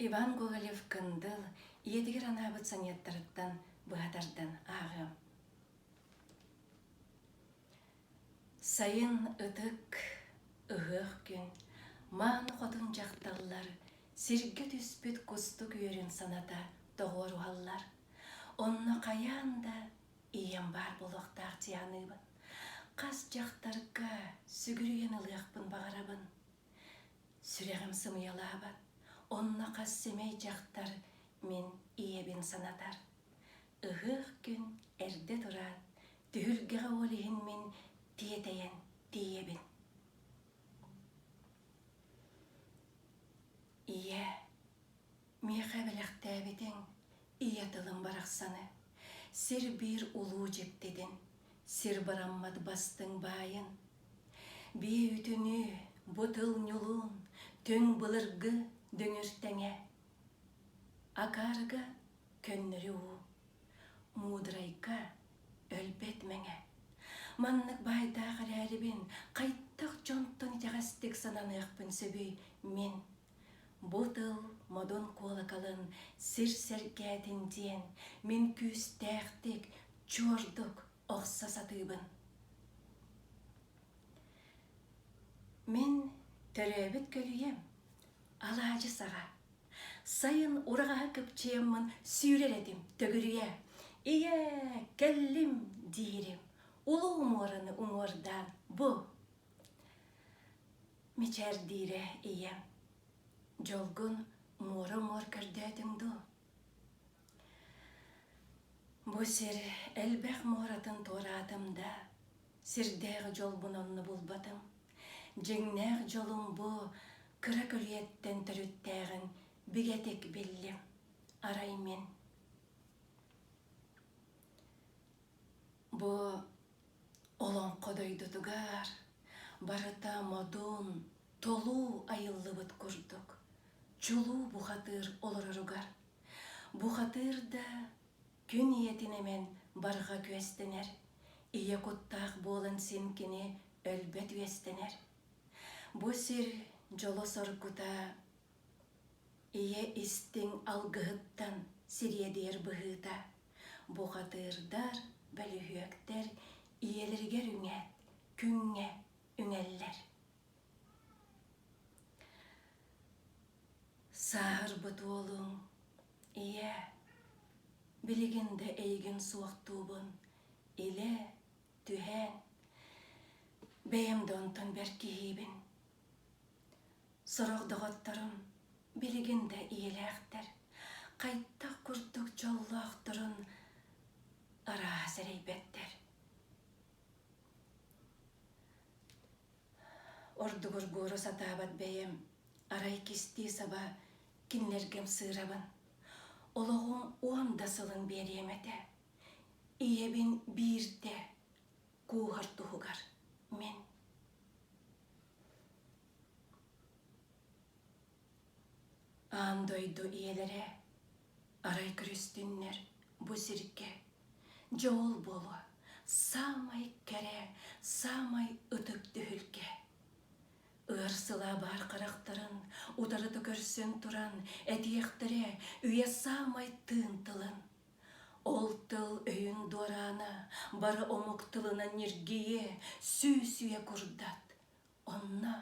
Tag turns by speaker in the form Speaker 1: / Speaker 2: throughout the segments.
Speaker 1: Иван Гоголев-Кындыл ийэтигэр анаабыт сонеттарыттан быһа тардан ааҕыам. Сайын ытык, ыһыах күн, мааны хотун дьахталлар сиргэ түспүт кустук үөрүн саната тоҕуоруһаллар. Онно хайаан да ийэм баар буолуохтаах дьианыыбын. Хас дьахтарга сүгүрүйэн ылыахпын баҕарабын. Сүрэҕим сымыйалаабат, онно хас сэмэй дьахтар мин ийэбин санатар. Ыһыах күн эрдэ тураан, түһүлгэҕэ ол иһин мин тиэтэйэн тиийэбин. Ийээ, Миэхэ бэлэхтээбитиҥ ийэ тылым барахсаны, сир-биир улуу дьиктитин, сир бараммат бастыҥ баайын. Биэ үтүнүү бу тыл ньулуун, түҥ былыргы дүҥүр тэҥэ. Акаарга көннөрү уу, муудрайга өлбөт мэҥэ. Маннык баайдаах эрээрибин, хайдах дьонтон итэҕэстик сананыахпын сөбүй мин? Бу тыл модун куолакалын сир сэргээтин диэн мин күүстээхтик, чуордук охсо сатыыбын. Мин төрөөбүт көлүйэм алаадьы саҕа. Сайын ураҕаһа кыпчыйаммын сүүрэр этим төгүрүйэ. Ийээ, кэллим диирим. Улуу муораны уҥуордаан бу. мичээрдиирэ ийэм, дьолгун муора-муор көрдөөтүҥ дуу? Бу сир элбэх муоратын туораатым да, сирдээх дьолбун онно булбатым. Дьиҥнээх дьолум бу кыра күрүйэттэн төрүттээҕин бигэтик биллим. Арай мин Бу Олоҥхо дойдутугар барыта модун, толуу айыллыбыт курдук, чулуу бухатыыр олороругар. Бухатыыр да күн ийэтин эмэн барҕа күөстэнэр, ийэ куттаах буолан син кини өлбөт үөстэнэр. Бу сир дьоло-соргута Ийэ истиҥ алгыһыттан сириэдийэр быһыыта бухатыырдар, бөлүһүөктэр ийэлэригэр үҥээт, күҥҥэ үҥэллэр. Сааһырбыт уолуҥ ийээ, билигин да эйигин суохтуубун илэ, түһээн, бэйэм да онтон бэрт киһиибин Сорох доҕотторум билигин да ийэлээхтэр, хайдах курдук дьоллоохторун арааһа сэрэйбэттэр. Ордугур буору сатаабат бэйэм, арай кистии саба кинилэргим сыырабын. Олоҕум уон да сылын биэриэм этэ. Ийэбин биирдэ кууһар туһугар мин аан дойду ийэлэрэ арай күрүстүннэр бу сиргэ дьоол буолуо саамай кэрэ саамай ытык түһүлгэ ыар сыла баар харахтарын утарыта көрсөн туран этиэхтэрэ үйэ саамай тыын тылын Ол тыл өйүн дуораана бары омук тылынан ньиргийэ, сүүсүйэ курдат. Онно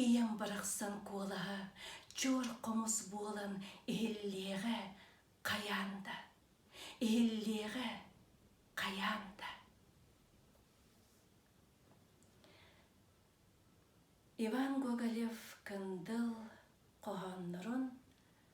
Speaker 1: ийэм барахсан куолаһа чуор хомус буолан иһиллиэҕэ хайаан да, иһиллиэҕэ хайаан да. Иван Гоголев Кындыл хоһооннорун